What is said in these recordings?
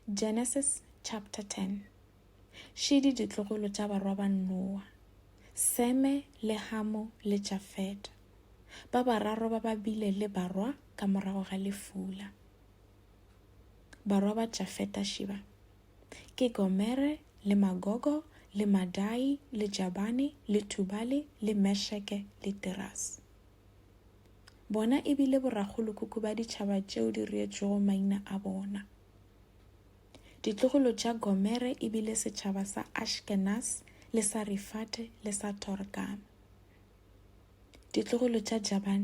Genesis chapter 10 Šidi ditlogolo tša barwa ba Noa, Seme le Hamo le Jafeta, ba bararo ba ba bile le barwa ka morago ga lefula. Barwa ba Jafeta šiba ke Gomere le Magogo le Madai le Jabane le Tubale le Mesheke le Tirase. Bona e bile borakgolokhukhu ba ditšhaba tšeo di reetšwego maina a bona. Ditlogolo tša Gomere e bile setšhaba sa Ashkenaz le sa Rifate le sa Torgama. Ditlogolo tša Jaban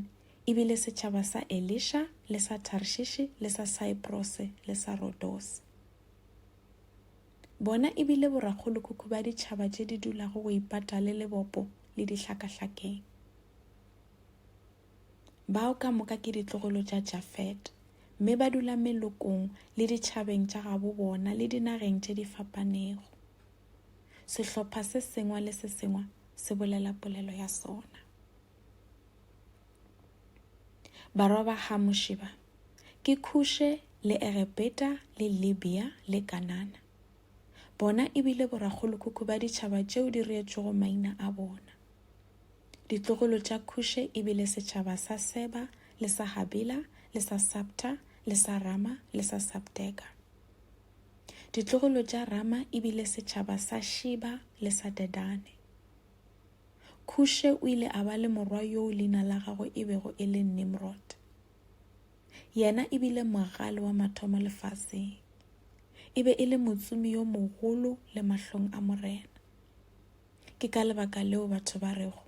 e bile setšhaba sa Elisha le sa Tarshishi le sa Cyprose le sa Rodose. Bona e bile borakgolokhukhu ba ditšhaba tše di dulago go ipata le lebopo le dihlakahlakeng. Bao ka moka ke ditlogolo tša Jafete, mme ba dula melokong le ditšhabeng tša gabo bona le dinageng tše di fapanego. Sehlopha se sengwe le se sengwe se bolela polelo ya sona. Barwa ba Hamuši ba ke Khushe le Egepeta le Libya le Kanana. Bona e bile borakgolokhukhu ba ditšhaba tšeo di reetšwego maina a bona. Ditlogolo tša Khushe e bile setšhaba sa Seba le sa Habila le sa Sabta le sa Rama le sa Sabteka. Ditlogolo tša Rama e bile setšhaba sa Shiba le sa Dedane. Khushe o ile a ba le morwa yoo leina la gagwe e bego e le Nimrod. Yena e bile mogale wa mathomo lefaseng. E be e le motsomi yo mogolo le mahlong a Morena. Ke ka lebaka leo batho ba rego,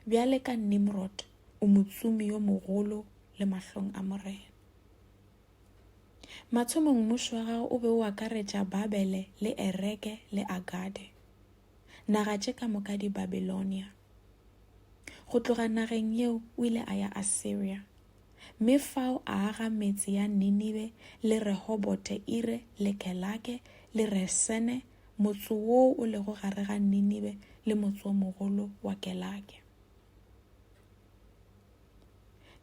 Bjale ka Nimrod o motsumi yo mogolo le mahlong a Morena. Mathomong mmušo wa gago o be o akaretša Babele le Ereke le Agade, naga tše ka moka di Babilonia. Go tloga nageng yeo o ile a ya Assyria. mme fao a aga metse ya Ninibe le Rehobote-ire le Kelake le Resene, motse woo o lego gare ga Ninibe le motse o mogolo wa Kelake.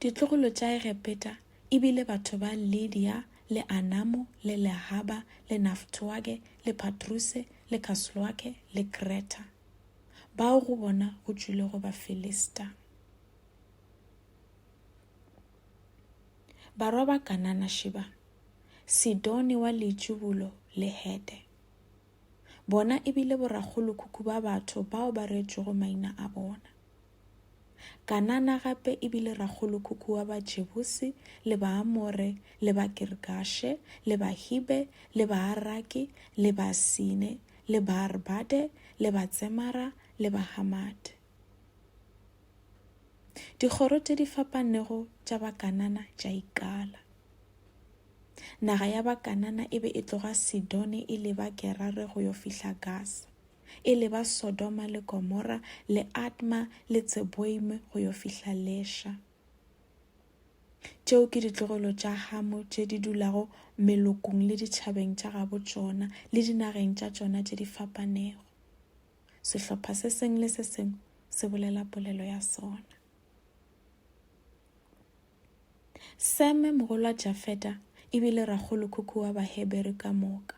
Ditlogolo tša Egepeta e bile batho ba Lidia le Anamo le Lehaba le Naftoage le Patruse le Kasloake le Kreta, bao go bona go tšwilego Bafilista. Barwa ba Kanana šiba, Sidone wa Leitšibulo le Hete. Bona e bile borakgolokhukhu ba batho bao ba reetšwego maina a bona. Kanana gape e bile rakgolokhukhu wa Bajebuse le Baamore le Bakirgashe le Bahibe le Baaraki le Basine le Baarbade le Batsemara le Bahamate. Dikgoro tše di fapanego tša Bakanana tša ikala. Naga ya Bakanana e be e tloga Sidone e leba Gerare go yo fihla Gasa, e leba Sodoma le Gomora le Adma le Tseboime go yo fihla Lesha. Tšeo ke ditlogelo tša Hamo tše di dulago melokong le ditšhabeng tša gabo tšona le dinageng tša tšona tše di fapanego. Sehlopha se sengwe le se sengwe se bolela polelo ya sona. Seme, mogolwa Jafeta, e bile rakgolokhukhu wa Bahebere ka moka.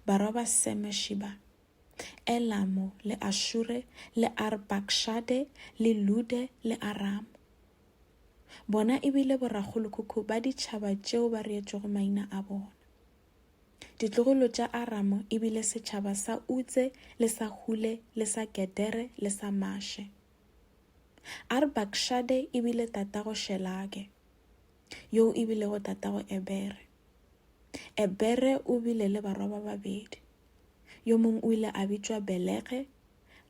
Barwa ba Seme, Shiba, Elamo le Ashure le Arpakshade le Lude le Aramo. Bona e bile borakgolokhukhu ba ditšhaba tšeo ba reetšwego maina a bona. Ditlogolo tša Aramo e bile setšhaba sa Utse le sa Hule le sa Gedere le sa Mashe. Arpakshade e bile tatago Shelage, yoo e bilego tatago Ebere. Ebere o bile le barwa ba babedi, yo mongwe o ile a bitšwa Belege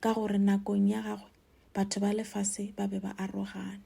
ka gore nakong ya gagwe batho ba lefase ba be ba arogane.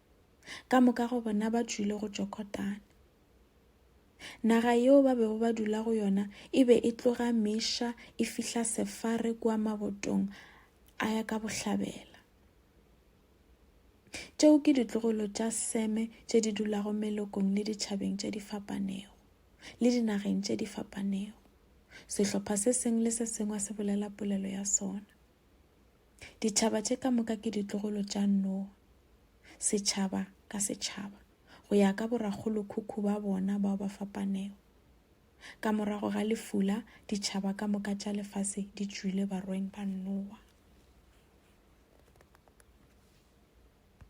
ka moka go bona ba tšwile go tšokotana naga yeo ba bego ba dula go yona e be e tloga meša e fihla sefare kua mabotong a ya ka bohlabela tšeo ke ditlogolo tša seme tše di dulago melokong le ditšhabeng tše di fapanego le dinageng tše di fapanego sehlopha se sengwe le se sengwe se bolela polelo ya sona Ditšhaba tše ka moka ke ditlogolo tša Noa, setšhaba ka setšhaba, go ya ka borakgolokhukhu ba bona bao ba fapanego. Ka morago ga lefula, ditšhaba ka moka tša lefase di tšwile barweng ba Noa.